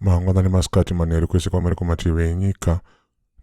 mangwanani masikati manheru kwese kwamuri kumativi enyika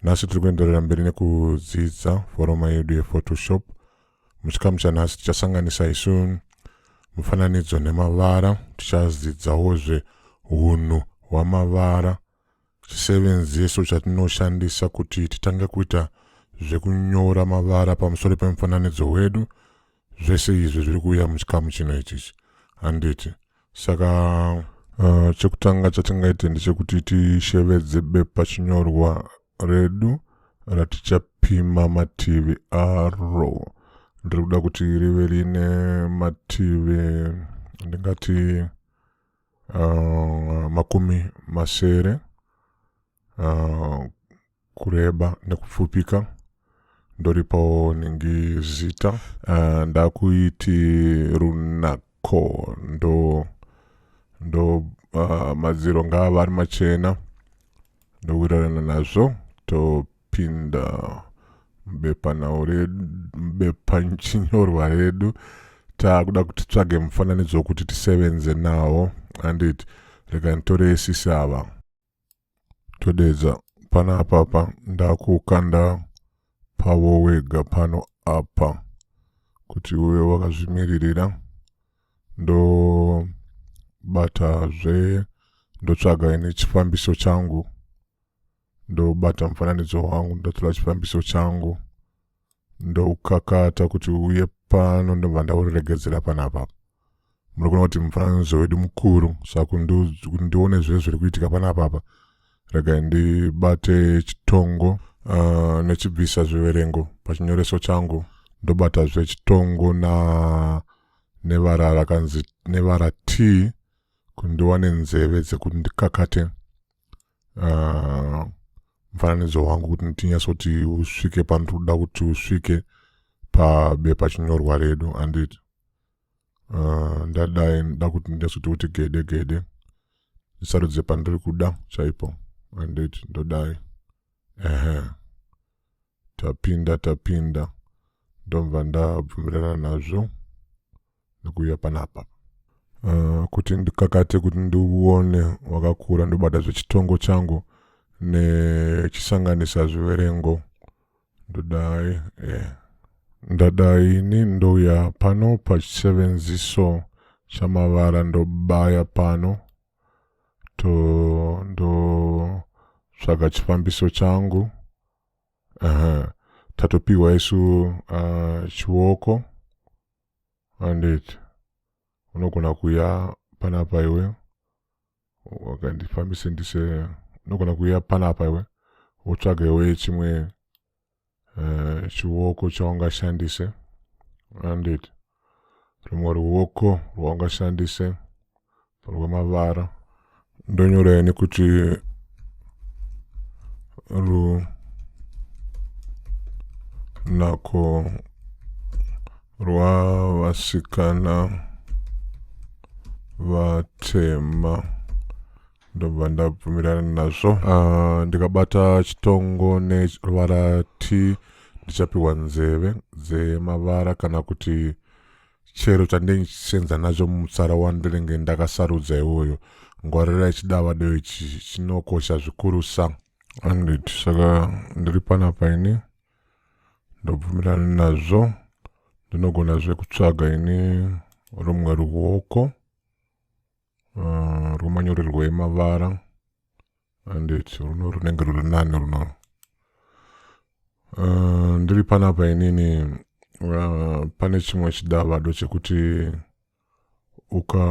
nhasi tiri kuenderera mberi nekudzidza foroma yedu yephotoshop muchikamu chanhasi tichasanganisa isu mufananidzo nemavara tichadzidzawozve unhu hwamavara Chisevenzeso chatinoshandisa kuti titange kuita zvekunyora mavara pamusoro pemufananidzo wedu zvese izvi zviri kuuya muchikamu chino ichichi handiti saka uh, chekutanga chatingaite ndechekuti tishevedze bepa chinyorwa redu ratichapima mativi aro ndiri kuda kuti rive rine mativi ndingati uh, makumi masere uh, kureba nekupfupika ndoripawo ningi zita uh, ndakuiti runako ndo ndo uh, madziro ngava ari machena ndowirirana nazvo topinda mubepanyorwa redu taakuda kuti tsvage mufananidzo wokuti tisevenze nawo andit reka nditore esisi ava todeedza panapapa ndakukanda pavo wega pano apa kuti uve wakazvimiririra ndobata zve ndotsvaga ini chifambiso changu ndobata mufananidzo wangu ndotora chifambiso changu ndoukakata kuti uye pano ndobva ndauregedzera panapa muri kuona kuti mufananidzo wedu mukuru saka kuti ndione zve zviri kuitika pana papa regai ndibate chitongo uh, nechibvisa zviverengo pachinyoreso changu ndobata zve chitongo na nevara rakanzi nevara t kuti ndiwane nzeve dzekuti ndikakate uh, mufananidzo wangu kuti ndinyatsoti usvike panotoda kuti usvike pabepa chinyorwa redu anditi uh, ndadai nda kuti ndezoti kuti gede gede ndisarudze pandiri kuda chaipo anditi ndodai ehe tapinda tapinda ndobva ndabvumirana nazvo nekuuya panapa uh, kuti ndikakate kuti ndiuone wakakura ndobata zvechitongo changu nechisanganisa zviverengo ndodai eh, ndadai ini ndouya pano pachisevenziso chamavara ndobaya pano to ndotsvaga chifambiso changu uh -huh. tatopiwa isu uh, chioko andit unogona kuya panapa iwe okay ndifambise ndise unogona kuuya panapa iwe wotsvaga iwe chimwe uh, chiwoko chaungashandise andit rumwe ruwoko rwaungashandise rwemavara ndonyora ini kuti ru nako rwavasikana vatema ndobva ndabvumirana nazvo uh, ndikabata chitongo neruvara t ndichapiwa nzeve dzemavara kana kuti chero chandenge chichisenza nacho mutsara wandinenge ndakasarudza iwoyo ngwarira ichidava deo ichi chinokosha zvikurusa andit saka ndiri panapa ini ndobvumirana nazvo ndinogona zve kutsvaga ini rumwe ruoko uh, rwemanyorerwo emavara andit runo runenge ruri nani runo uh, ndiri panapa inini uh, pane chimwe chidavado chekuti uka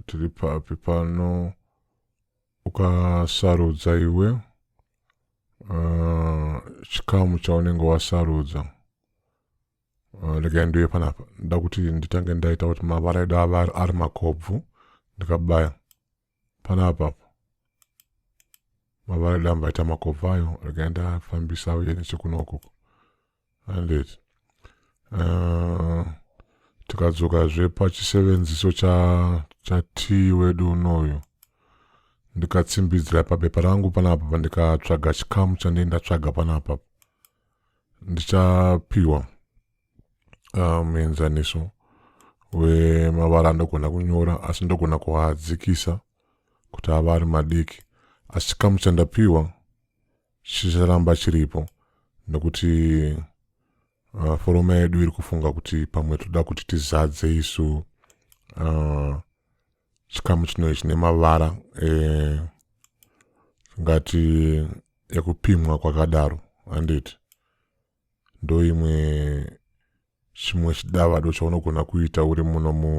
tiri papi pano ukasarudza iwe uh, chikamu chaunenge wasarudza uh, regai ndiuye panapa nda kuti nditange ndaita kuti mavara edu ava ari makobvu ndikabaya panapa mavara edu ambaita makobvu ayo regai ndafambisa uye nechekunokoko handeti uh, tikadzokazve pachisevenziso chatii cha wedu unoyu ndikatsimbidzira pabepa rangu panapa pandikatsvaga chikamu chandei ndatsvaga panapa ndichapiwa ah, muenzaniso um, wemavara andogona kunyora asi ndogona kuadzikisa kuti ava ari madiki asi chikamu chandapiwa chicharamba chiripo nekuti uh, foroma yedu iri kufunga kuti pamwe toda kuti tizadze isu uh, chikamu chinoe chine mavara eh, ngati ekupimwa kwakadaro handiti ndoimwe chimwe chidavado chaunogona kuita uri muno mu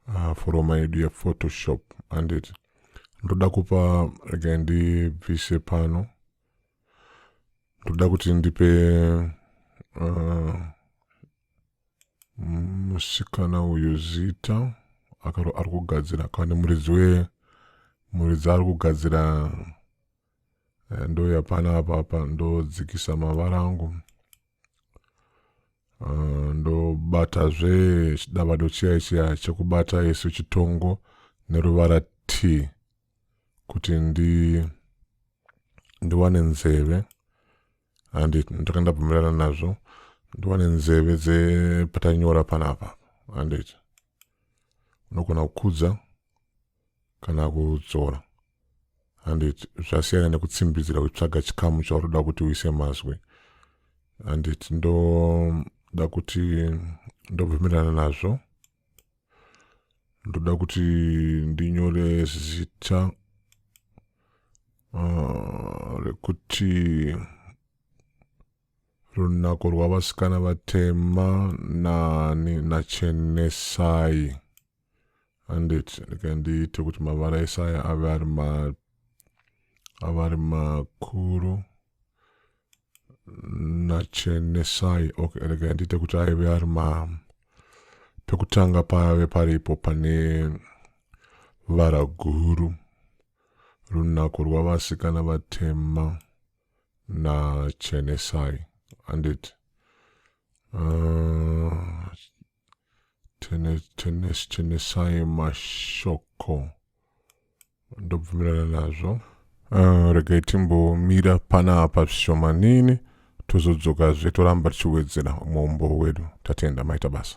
uh, foroma yedu yephotoshop anditi ndoda kupa rega ndibvise pano ndoda kuti ndipe uh, musikana uyu zita ari kugadzira kana muridzi we muridzi ari kugadzira eh, ndouya pana apa apa ndodzikisa mavara angu eh, ndobata zve chidavado chiya chiya chekubata isu chitongo neruvara t kuti ndi ndiwane nzeve handi ndaka ndabvumirana nazvo ndiwane nzeve dzepatanyora panapa handiti unogona kukudza kana kudzora and it zvasiyana nekutsimbidzira kutsvaga chikamu chautoda kuti uise mazwi and it ndoda kuti ndobvumirana nazvo ndoda kuti ndinyore zita uh, rekuti uh, runako rwavasikana vatema nani nachenesai handiti regai ndiite kuti mavara ese aya ave ari ma ave ari makuru nachenesai okay regai ndiite kuti aive ari ma pekutanga pave paripo pane vara guru runako rwavasikana vatema nachenesai handiti uh, chenesai mashoko ndobvumirana nazvo uh, regai timbomira panapa zvishomanini tozodzoka zve toramba tichiwedzera muumbo wedu tatenda maita basa